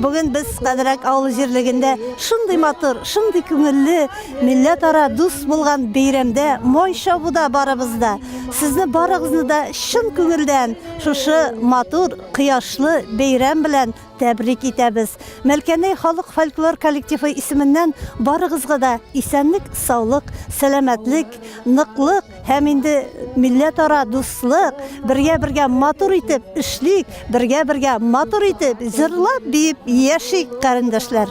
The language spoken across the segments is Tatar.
Бүген без Кадрәк авыл җирлегендә шундый матур, шундый күңелле, милләтара дус булган бәйрәмдә, май чабуда барыбыз да. Сезне барыгызны да чын күңелдән шушы матур, кояшлы бәйрәм белән тәбрик итәбез. Мәлкәнәй халык фольклор коллективы исеменнән барыгызга да исәнлек, саулык, сәламәтлек, ныклык, Һәм инде милләтара дуслык, бергә-бергә матур итеп эшлик, бергә-бергә матур итеп җырлап, биеп яшик, карендәшләр.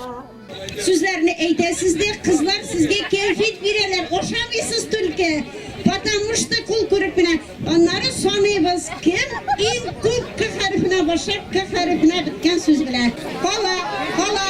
Сүзләрне әйтәсез дә, кызлар сезгә кәефит бирәләр, ошамыйсыз түлке. Потому что кул күреп кенә. Аннары саныйбыз, кем иң күп к хәрефенә башлап, к хәрефенә беткән сүз белә. Кала, кала.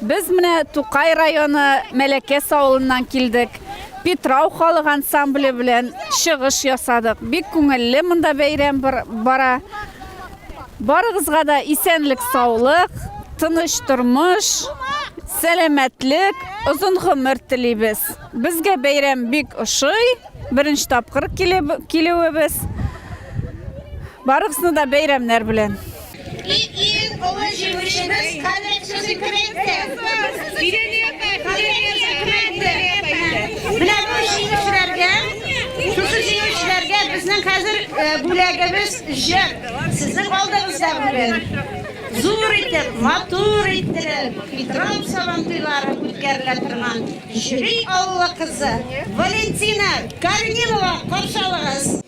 Без менә Тукай районы Мәләкәс авылыннан килдек. Питрау халык ансамбле белән чыгыш ясадык. Бик күңелле монда бәйрәм бара. Барыгызга да исәнлек-саулык, тыныч тормыш, сәламәтлек, озын гомер телибез. Безгә бәйрәм бик ошый. Беренче тапкыр килүебез. Барыгызны да бәйрәмнәр белән! И иң олы җиңүчебез Кадер Сузикренте. Менә бу җиңүчеләргә, шушы җиңүчеләргә безнең хәзер э, бүләгебез җыр. Сезнең алдыгызда бүген зур итеп, матур иттереп, Петров сабантуйлары үткәрелә торган Җөри авылы кызы Валентина Корнилова каршы алыгыз.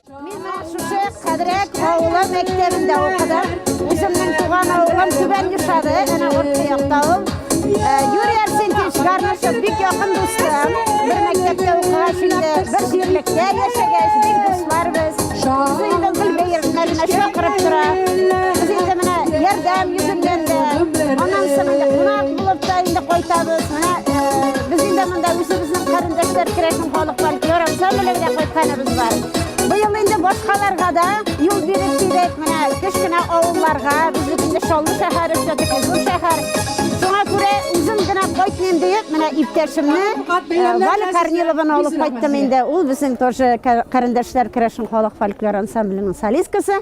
Мин менә шушы Кадрәк авылы мәктәбендә укыдым. Үземнең туган авылым Түбән Юшады, әнә урта якта ул. Э, Юрий Арсентьевич Гармашев бик якын дустым. Бер мәктәптә укыгач инде, бер җирлектә яшәгәч, бик дуслар без. Үзе инде гөл бәйрәмнәренә чакырып тора. Без инде менә ярдәм йөзеннән дә, аннан соң инде кунак булып та инде кайтабыз. Менә э, без инде монда үзебезнең карендәшләр керәшен Халыклар көр ансамблен дә кайтканыбыз бар. Быел инде башкаларга да юл биреп килдек. Менә кечкенә авылларга, безнең инде Чаллы шәһәре үсәдек, зур шәһәр. Шуңа күрә үзем генә кайтмыйм диеп, менә иптәшемне э, Валя Корнилованы алып кайттым инде. Ул безнең тоже ка- карендәшләр керәшен халык фольклор ансамбленең солисткасы.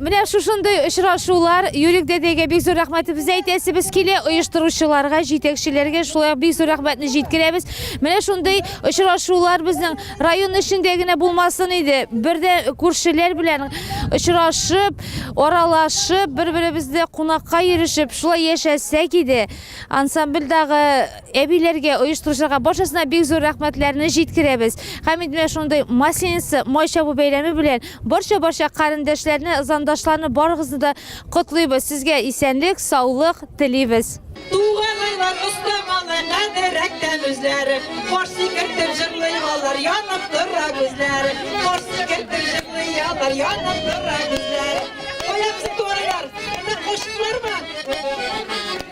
Менә шушындый очрашулар, Юрик дәдәгә бик зур рәхмәтебезне әйтәсебез килә, оештыручыларга, җитәкчеләргә шулай ук бик зур рәхмәтне җиткерәбез. Менә шундый очрашулар безнең район эчендә генә булмасын иде, бердә күршеләр белән очрашып, аралашып, бер-беребезне кунакка йөрешеп, шулай яшәсәк иде. Ансамбльдагы Әбиләргә, оештыручыларга барчасына бик зур рәхмәтләрне җиткерәбез. Һәм инде менә шундый Масленица, май чабу бәйрәме белән барча-барча карендәшләрне, зандашларны барыгызны да котлыйбыз. Сезгә исәнлек, саулык телибез. Туган айлар оста малай кадер әктән үзләре Кар сикертеп җырлый алар, янып тора күзләре Кар сикертеп җырлый алар, янып тора күзләре Кая безнең туган айлар? Кайда, кайчылар бар?